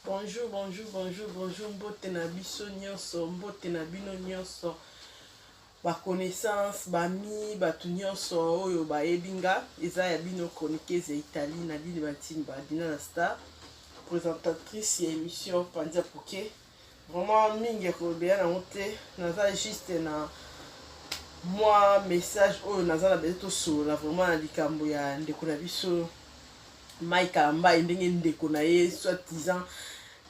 bonjour bonjour bonjour bonjour mbote na biso nyonso mbote na bino nyonso baconnaissance bami bato nyonso oyo bayebi nga eza ya bino chroniqueuse ya italie na bino batimba dina na star présentatrice ya émission pandia poke Vraiment mingi ya kolobela nango te, naza juste na mwa message oyo naza na bese tosolola vraiment na likambo ya ndeko na biso Mai Kalambayi ndenge ndeko na ye soit disant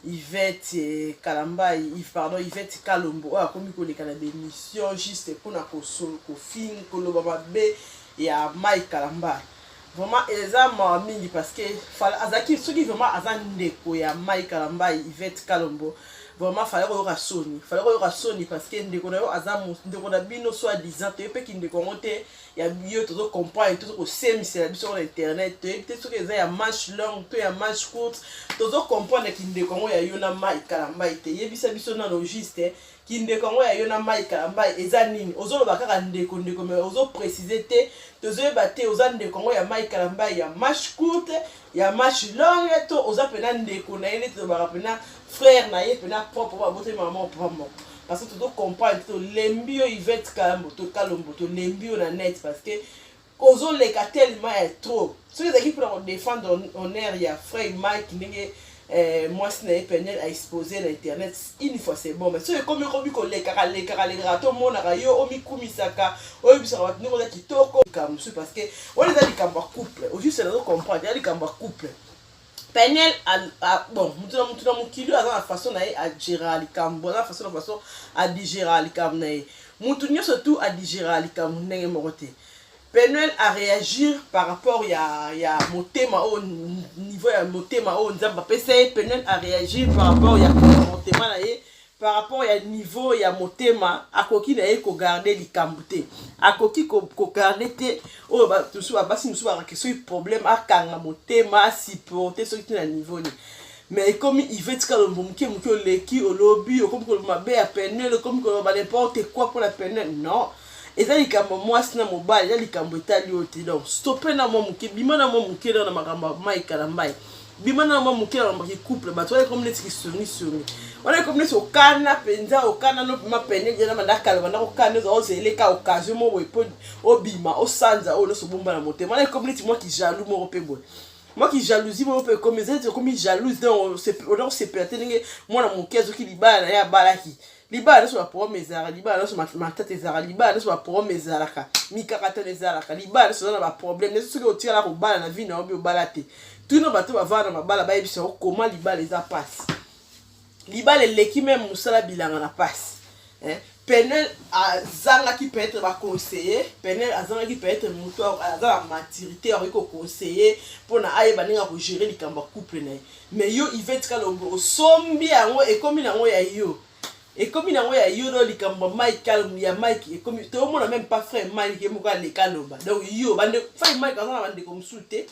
Yvette eh, Kalambayi pardon Yvette Kalombo oyo akomi koleka na bemission juste mpona kosolo kofing koloba mabe ya Mai Kalambayi Vraiment eza mawa mingi parce que fala azaki soki vraiment aza ndeko ya Mike Kalambayi Yvette Kalombo vraiment fallait koyoka soni fallait koyoka soni parce que ndeko na yo aza ndeko na bino soit disant toyebi mpe kindeko yango te ya yo tozo comprendre tozo kosemisela biso na internet toyebi te soki eza ya manche longue to ya manche courte tozo comprendre kindeko yango ya yo na Mike Kalambayi te yebisa biso nano juste kindeko yango ya yo na mai kalambai eza nini ozoloba kaka ndeko ndeko me ozo précise te tozoyeba te oza ndeko yango ya mai kalambai ya marche courte ya marche longue to oza mpena ndeko na ye nde tolobaka mpena frère na ye mpena propre oyo aboteli mama papa moko parce que tozo comprendre te tolembi yo ivete kalombo tolembi yo na net parce que Ozo leka tellement ya trop. Soki ezalaki pona ko defendre honneur ya frère Mike ndenge eh, mwasi na ye Peniel a expose na internet une fois c'est bon mais soki ekomi ekomi kolekaka lekaka lekaka tomonaka yo omikumisaka oyebisaka bato ndenge oza kitoko likambo mosusu parce que wana eza likambo ya couple ojuste nazo comprendre eza likambo ya couple Peniel bon mutu na mutu na mokili oyo aza na façon na ye agera likambo aza na façon na façon adigera likambo na ye mutu nyonso tu adigera likambo ndenge moko te Peniel a réagir par rapport ya ya motema oyo niveau ya motema oyo Nzambe apesa ye Peniel a réagir par rapport ya comportement na ye par rapport ya niveau ya motema akoki na ye kogarde likambo te akoki kogarde ko te oyo basusu babasi mosusu bakake soki problème akanga motema asupporte soki te na niveau nini mais ekomi ivete kalombo moke moke oleki olobi okomi koloba mabe ya penel okomi koloba n'importe quoi mpo na penel non eza likambo ya mwasi na mobali eza likambo etali yo te donc stope na mwa moke bima na mwa moke na makambo ya mai kalambai bima na mwa moke na makambo kicouple bato wana ekomi neti kisongisongi wana ekomi neti okana mpenza okana no mpema pene ejana banda kala banda kokana oza ozeleka occasion moko boye mpo obima osanza oyo nyonso obomba na motema wana ekomi neti mwa kijalou moko mpe boye mwa kijalousie moko mpe ekomi eza neti ekomi jalouse donc oza kosepela te ndenge mwana moke azoki libala na ye abalaki libala nyonso baproblème ezalaka libala nyonso matata ezalaka libala nyonso baproblème ezalaka mikakatano ezalaka libala nyonso eza na baproblème nyonso soki otikala kobala na vie na yo bi obala te tuna bato bavanda na mabala bayebisa yo koma libala eza mpasi libala eleki meme mosala bilanga na mpasi eh? penel azangaki peut-être baconseiller penel azangaki peut-être moto aza na maturité akoki koconseiller mpona ayeba ndenge akogere likambo ya couple na ye Mais yo Yvette Kalombo osombi yango ekomi nango ya yo. Ekomi nango ya yo do likambo ya Mike Kalombo ya Mike ekomi to mona même pas frère Mike ye moko aleka loba. Donc yo bande frère Mike azana bande ko musute.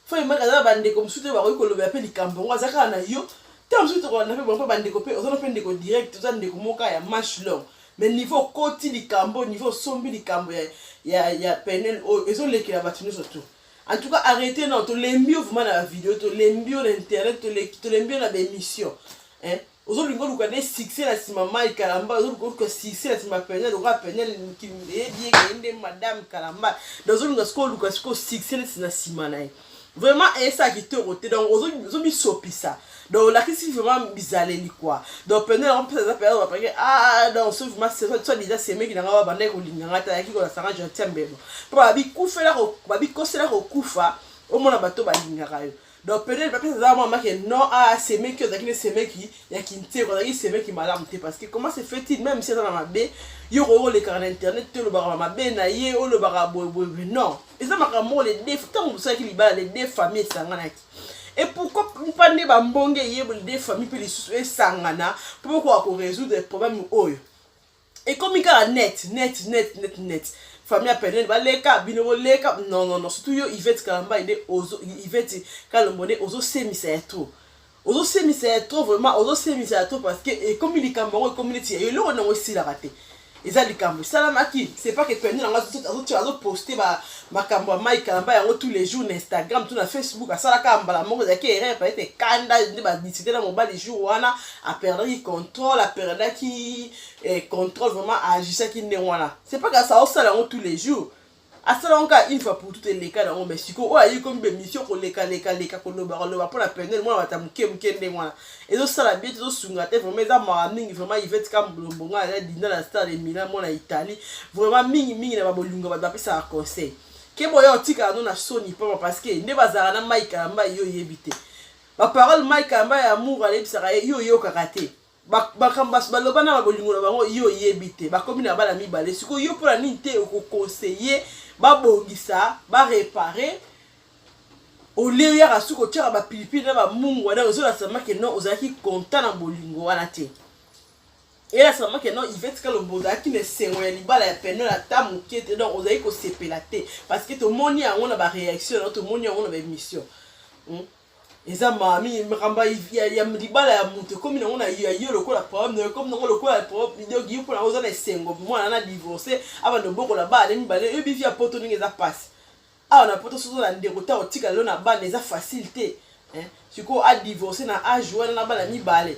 Frère Mike azana bande ko musute ba ko loba pe likambo ngo azaka na yo. Tant musute to na pe bon pa bande ko pe ozana pe ndeko direct ozana ndeko moka ya match long. Mais niveau koti likambo niveau sombi likambo ya ya ya penel oyo ezolekela bato nyonso tout. En tout cas, arrêtez non, to lembio vraiment na vidéo, to lembio na internet, to le to lembio na émission. Hein? Ozo lingo luka des succès la sima Mike Kalamba, ozo lingo luka succès la sima Penel, luka Penel qui est bien kende madame Kalamba. Ozo lingo sko luka sko succès la sima na ye. Vraiment, et ça qui te rote donc ozo ozo mi sopisa. donc olakisi vraiment bizaleli quoi donc pene yango mpesa eza pena bapake ah donc so vraiment soit disant semeki na ngai babandaki kolinga ngai te ayaki kolasanga gentil mbebo mpo babikufela babikosela kokufa omona bato balingaka yo donc pene bapesa eza mwa make non ah semeki ozalaki ne semeki ya kinteko ozalaki semeki malamu te parce que comment se fait il même si eza na mabe yo okoki kolekaka na internet te olobaka mabe na ye olobaka boyeboyeboye non eza makambo moko le def ntango mosalaki libala le def famille esanganaki et pourquoi pas nde bambonge eyeboli nde famille mpe lisusu esangana mpo bokoka korésoudre problème oyo ekomi kaka net net net net net famille ya pene baleka bino boleka non non non surtout yo ivete kalamba nde ozo ivete kalombo nde ozosemisa ya trop ozosemisa ya trop vraiment ozosemisa ya trop parce que ekomi likambo yango ekomi neti ya eloko nango esilaka te eza likambo esalamaki c'est pas que pende na ngai azoposte makambo ya mai kalamba yango tous les jours na instagram to na facebook asalaka mbala moko ezalaki erreur peut-être ekanda nde badisite na mobali jour wana aperdaki contrôle aperdaki eh, contrôle vraiment aagissaki ndenge wana c'est pas que aosala yango tous les jours asala yango kaka une fois pour tout eleka nango mais sikoyo oyo ayei komi bemission koleka leka leka koloba koloba mpo na penel mwana bata moke moke ndenge wana ezosala bie te ezosunga te vraiment eza mawa mingi vraiment ivete kambolombo ngai aza dinda na star de milan mwana italie vraiment mingi mingi na babolingo bato bapesaka conseil ke boya otikala no na soni mpama parce que nde bazalaka na mai kalamba yo oyebi te baparole mai kalamba ya amour alebisaka ye yo oyokaka te makambo baso baloba na babolingo na bango yo oyebi te bakomi na bana mibale sikoyo yo mpo na nini te okoconseille babongisa barepare olie oyaka suki otyaka bapilipili na bamungu wana ozolasa make no ozalaki konta na bolingo wana te eyelasa make no ivete kalombo ozalaki na esengo ya libala ya penel ata moke te donc ozalaki kosepela te parce que tomoni yango na bareaction yango tomoni yango na baémission hmm? eza mami makambo ya libala ya moto ekomi nango na yo lokola problème nayo ekomi nango lokola problème donc yo mpona oza na esengo mwana na divorce abanda obokola bana mibale yo bivi ya poto ndenge eza mpasi awa na poto soki oza na ndeko ntango otikala yo na bana eza facile te sikoyo adivorce na age wana na bana mibale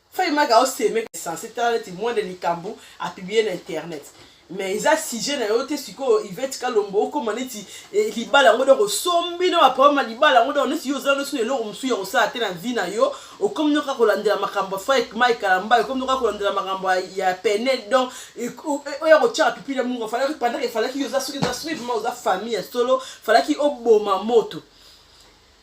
Fay Mike ao seme sense tala neti moins de likambo a publier na internet mais eza sujet na yo te sikoyo Yvette Kalombo okoma neti eh, libala yango donc osombi na baproblème ya libala yango donc neti yo ozala nosi na eloko mosusu ya kosala te na vie na yo okomi noka kolandela makambo ya Faik Mike Kalamba okomi noka kolandela makambo ya Pene donc oya kotyaka pipi na mungo falaki pendant que falaki yo oza soki oza soki vraiment oza famille ya solo falaki oboma moto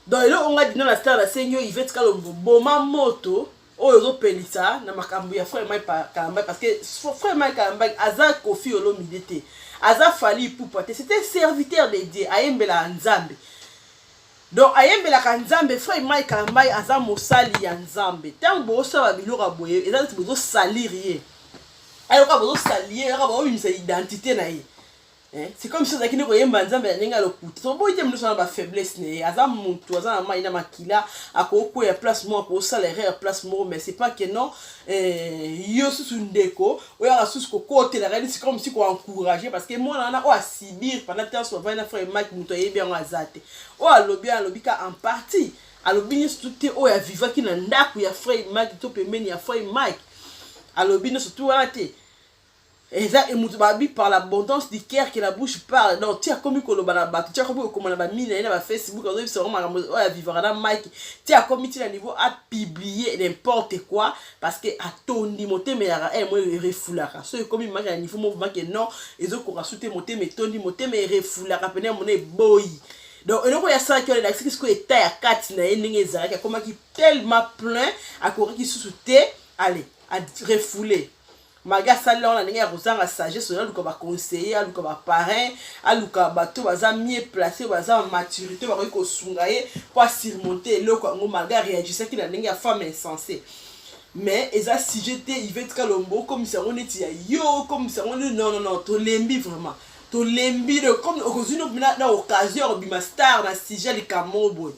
donc eloko nga dina na star nasengi yo ivete kalombo boma moto oyo ozopelisa na makambo ya frère mike kalambay parce que frère mike kalambay aza kofi olomide te aza fali ipupa te c'était serviteur de dieu ayembelaka nzambe donc ayembelaka nzambe frère mike kalambay aza mosali ya nzambe ntango bosala biloko ya boye eza neti bozosalire ye ayoka bozosalie yoka baobimisa identité na ye Eh, c'est comme si ozalaki nde koyemba nzambe na ndenge ya lokuta toboyi te moto oza na bafaiblesse na ye aza motu aza na mai na makila akokweya place moko akosala erreur place moko mais c'est pas que non eh, yo susu ndeko oyaka susu kokotelaka nisi comme si koencourage parce que mwana wana oyo asibir pendant temps avai na frère mike moto ayebi yango aza te oyo alobi alobi ka en partie alobi nyonso te oyo avivaki na ndako ya frère mike to pembeni ya frère mike alobi nyonso tu wana te eza emutu babi par l'abondance du cœur que la bouche parle donc ti akomi koloba na bato ti akomi kokoma na bamini na ye na bafacebook azoyebisa bango makambo oyo avivaka na mike ti akomi ti na niveau apiblie n'importe quoi parce que atondi motema eyaka e eh, moi erefulaka so ekomi maki na niveau moko maki non ezokoka su te motema etondi motema erefulaka pene mona eboyi donc eloko oyo asalaki wana elakisaki sikoyo eta ya kati na ye ndenge ezalaki akomaki tellement plein akokaki susu te ale arefoule magi asali yango na ndenge ya kozanga sagesse oyo aluka baconseiller aluka baparin aluka bato baza mie place oyo baza maturité bakoki kosunga ye mpo asurmonte eloko yango magi areagisaki na ndenge ya femme insense mais eza sujet te ivete kalombo okomisa yango neti ya yo okomisa yango neti non non non tolembi vraiment tolembi comme okozwi na occasion ya kobima star na sujet likambo boye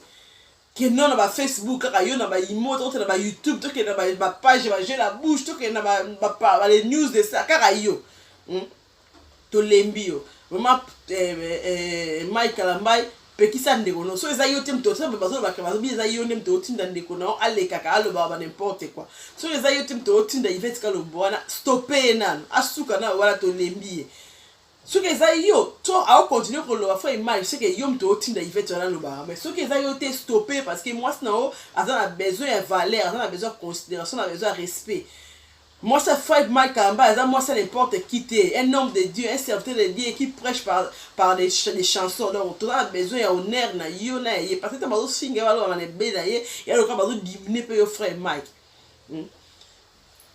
kenda na ba facebook kaka yo na ba imo tokota na ba youtube tokenda na ba page ba jeu la bouche tokenda na ba les news de ça kaka yo hmm? tolembi yo vraiment eh, eh, eh, mike kalambai pekisa ndeko no so eza yo te moto osa bazolobaka bazobi eza yo nde moto otinda ndeko na yo alekaka alobaka ba n'importe quoi so eza yo te moto otinda ivete kalombo wana stope ye nano asuka na wana tolembi ye soki eza yo to ao continuer koloba fo image seke yo moto otinda ivete wana alobaka mais soki eza yo te stoppe parce que mwasi na yo aza na besoin ya valeur aza na besoin ya considération na besoin ya respect mwasi ya fred mike kamba aza mwasi ya n'importe qui te un homme de dieu un serviteur de dieu qui prêche par, par des, ch des chansons donc toza na besoin ya honneur na yo na ye parce que ntango bazofinga ye balobaka na ebele na ye ya lokola bazodimine mpe yo fred mike hmm?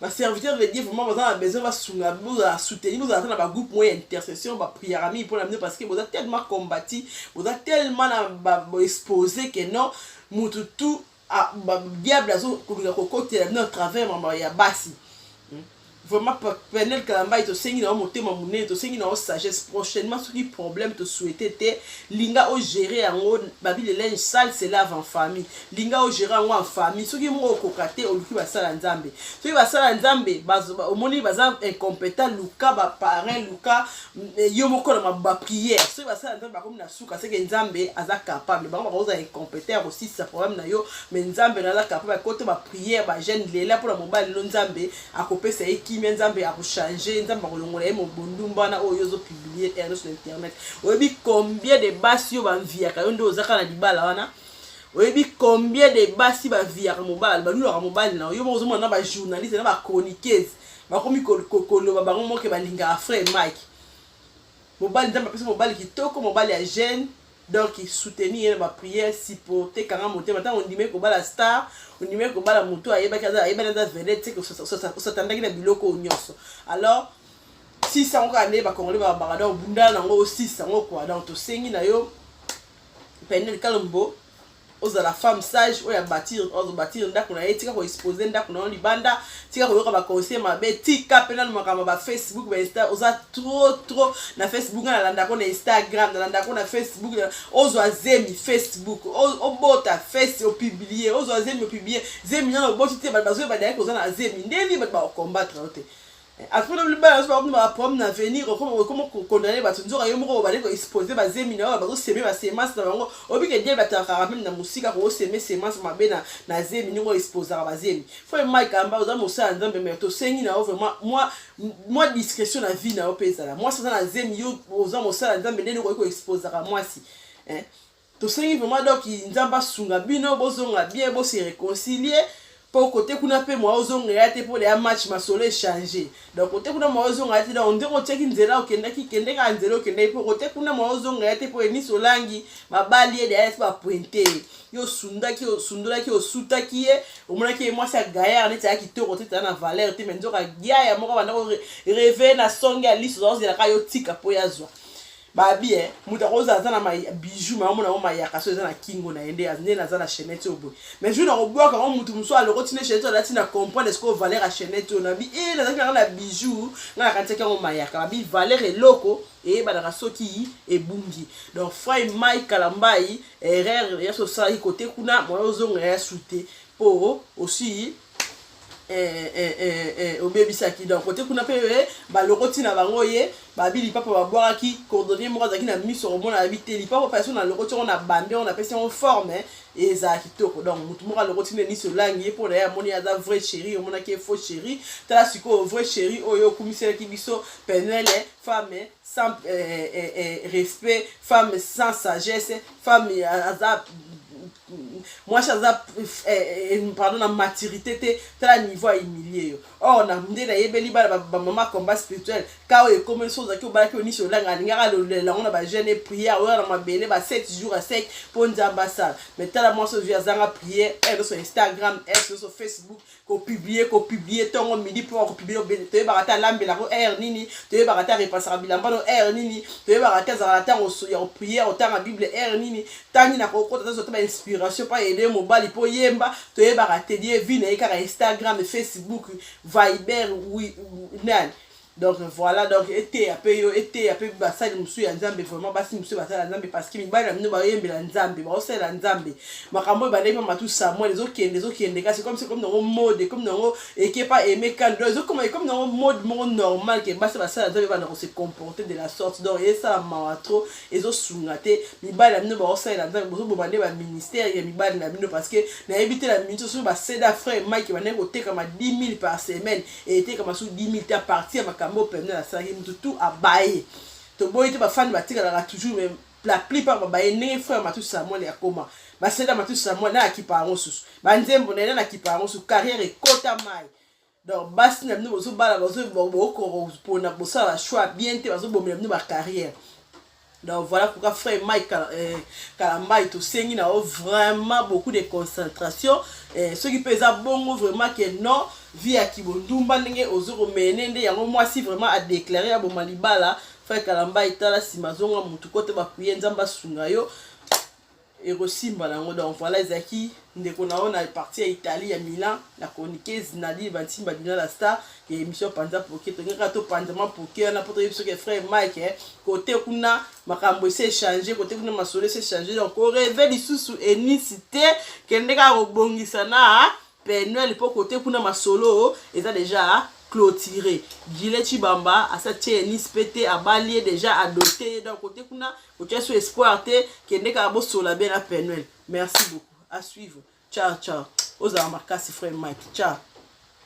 ba serviteur de Dieu vraiment baza na besoin basunga bozala soutenu bozala ata na ba groupe moya intercession ba prière mingi mpo na bino parce que boza tellement combati boza tellement na ba exposé que non mutu tout ah, ba diable azokolinga kokotela bino à travers mama ya basi hmm. vraiment penel kalambai tosengi na yo motema monene tosengi na yo sagesse prochainement soki problème tosouhaite te linga ogere yango babi le linge sale se lave en famille linga ogera yango en famille soki moko okoka te oluki basala nzambe soki basala nzambe omoni baza incompétent luka baparin luka mm, eh, yo moko na baprière soki basala nzambe bakomi na suka seke nzambe aza capable bango bakozala incompétent ya kosilisa problème na yo me nzambe na aza capable akoto baprière bagene lela mpo na mobali no nzambe akopesa ye kimia nzambe akochange nzambe akolongola ye mobondumba wana oyo yo ozopublie ernest na internet oyebi combien de basi yo banviaka yo nde ozaka na libala wana oyebi combien de basi baviyaka mobali balulaka mobali na yo moko ozomona na bajournaliste na bachroniqueuse bakomi koloba bango moke balingaka frère mike mobali nzambe apesa mobali kitoko mobali ya jeune donc soutenir ye na baprière supporte kanga motema ntango ondimaki kobala star ondimaki kobala motu ayebaki ayebani aza vedete seke osatandaki na biloko oyo nyonso alors sisa yango kaka nde bakongole babaka donc obundana na yango osisa yango kua donc tosengi na yo Peniel Kalombo ozala femme sage oyo abatir ozo batir ndako na ye tika ko expose ndako na yo libanda tika koyoka ba conseil mabe tika mpe nanu makambo ba facebook ba insta oza trop trop na facebook nga nalandako na instagram nalandako na facebook ozwa zemi facebook obota face opublie ozwa zemi opublie zemi nano oboti te bato bazoyeba dayaki oza na zemi nde nini bato bakokombatre yo te akuna libala azo bakuna ba problème na avenir okoma okoma ko condamner bato nzoka yo moko obale ko exposer ba zemi na yo bazo semer ba semence na bango obike diable atakaka meme na musika ko semer semence mabe na na zemi ndenge exposaka ba zemi faut Mike amba oza mosala nzambe mais to sengi na yo vraiment moi moi discrétion na vie na yo pezala moi soza na zemi yo oza mosala nzambe ndenge ko exposaka moi si eh Tosengi vraiment donc nzambe asunga bino bozonga bien bo se reconcilier po kote kuna mpe moya ozonga ya te mpo ya match masolo echange donc kote kuna moya ozonga ya te donc ndenge otiaki nzela okendaki kende kaka nzela okendaki mpo kote kuna moya ozonga ya te mpo enisi olangi babali ye deya ti bapointe ye yo osundaki osundolaki osutaki ye omonaki ye mwasi ya gayar neti aya kitoko te tala na valeur te me nzoka yaya moko abanda ko reve na songe ya liso ozaozelaka yo tika mpo yazwa babi eh moto akozala aza na bijou ma omona yango mayaka so eza na kingo na ye nde nde naza na chainete oyo boye mais jour nakobwaka yango moto mosusu alokoti ne chainete alati na comprendre esiko valeur ya chainete oyo nabi e eh, nazalaki nanga na bijou ngai nakanisaki yango mayaka babi valeur eloko eyebanaka soki ebungi donc frai mai kalambai erreur ya sosalaki kote kuna mwana ozonga ya sute mpo osi eh, eh, eh, eh, obebisaki donc kote kuna mpe eh, balokoti na bango ye babi lipapa babwakaki cordonnier moko azalaki na miso komona yabi te lipapa mpe soki nalokoti yango na bambi yango napesi yango forme eh, ezala kitoko donc motu moko alokoti nde niso olangi ye mpo na ye amoni ye aza vrai chéri omonaki ye faux chéri tala sikoyo vrai chéri oyo okumiselaki biso penele femme sans eh, eh, eh, respect femme sans sagesse femme eh, aza mwasi aza eh, eh, pardon na maturité te tala niveau ya humilie yo or na nde nayebeli bana bamama combat spirituel ka oyo ekomi so ozalaki obalaki yo niso olanga alingaka alolela yango na bajeune prière oyo na mabele ba 7 jours ya sec mpo nzambe asala mais tala mwasi ozwi azanga prière else eh, instagram else oso facebook ko publier ko publier tongo midi mpo ko publier toyebaka te alambela yango heure nini toyebaka te arepasaka bilamba no heure nini toyebaka te azalaka ntango ya kopriere kotanga bible heure nini ntangi na kokota tozwa te bainspiration mpo aede mobali mpo yemba toyebaka te die vi na ye kaka instagram facebook viber nani donc voilà donc eteya mpe yo eteya mpe basali mosusu ya nzambe vraiment basi mosusu basala nzambe parce que mibali na bino baoyembela nzambe baosalela nzambe makambo oyo bandeki mamatu samuel ezokende ezokende kasi comme ekomi nango mode ekomi nango ekepa aime kando ezokoma ekomi nango mode moko normal ke basi basala nzambe banda kose comporter de la sorte donc esala mawa trop ezosunga te mibali na bino baosalela nzambe bozoboma nde baministère ya mibali na bino parce que nayebi te na minute soki baseda frère mike bandeki kotekama 10 000 par semaine etekama su 10000 te apartir ya makambo oyo pemene asalaki motu tu abaye toboyi te bafani batikalaka toujours mais la plupart babaye ndenge frère matu samuel akoma basela matu samuel na akipa yango susu banzembo na ye na akipa yango susu carrière ekota mai donc basi na bino bozobala bokopona bosala choix bien te bazobomela bino bacarrière Donc voilà pourquoi frère Mike euh, Kalambayi tosengi na yo vraiment beaucoup de concentration eh, soki mpe eza bongo vraiment ke non vie ya kibondumba ndenge ozo komene nde yango mwasi vraiment adeklare ya boma libala frère Kalambayi tala nsima zonga motu kote bakuye nzambe asunga yo ekosimba na yango donc voilà ezalaki ndeko na yo na parti ya italie ya milan la chroniqueuse nadine bantimba dina la star ya émission panza poke tolingi kaka topanza mwa poke wana mpo toyebi soki frère mike eh, kote kuna makambo esi echange kote kuna masolo esi echange donc koreve lisusu enisi te kende kaka kobongisa na Penuel po kote kuna masolo eza deja clotire. Gilet Chibamba asa tie Nice pe te abali ye deja adote ye donc kote kuna kotia so espoir te kende kaka bosola bien na Penuel. Merci beaucoup. À suivre. Ciao ciao. Ozala makasi frère Mike. Ciao.